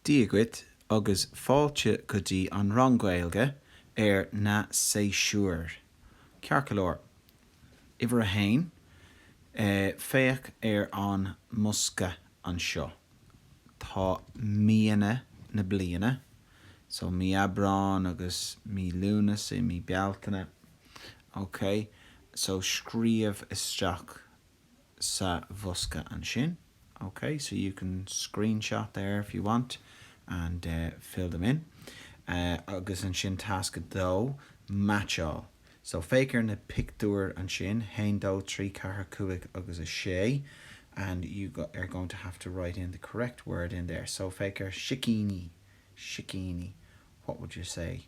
Dia dhuit agus fáilte go dtí an rang Gaeilge ar na séasúir. Ciorclán. Uimhir a haon, féach ar an mbosca anseo. Tá míonna na bliana, so mí Aibreán agus mí Lúnasa, mí Bealtaine. Okay? So scríobh isteach sa bhosca ansin. OK, so you can screenshot there if you want and fill them in. Agus ansin tasc a dó, meaitseáil. So féach ar na pictiúir ansin, haon dó trí ceathair cúig agus a sé and you are going to have to write in the correct word in there. So féach ar sicíní, sicíní, what would you say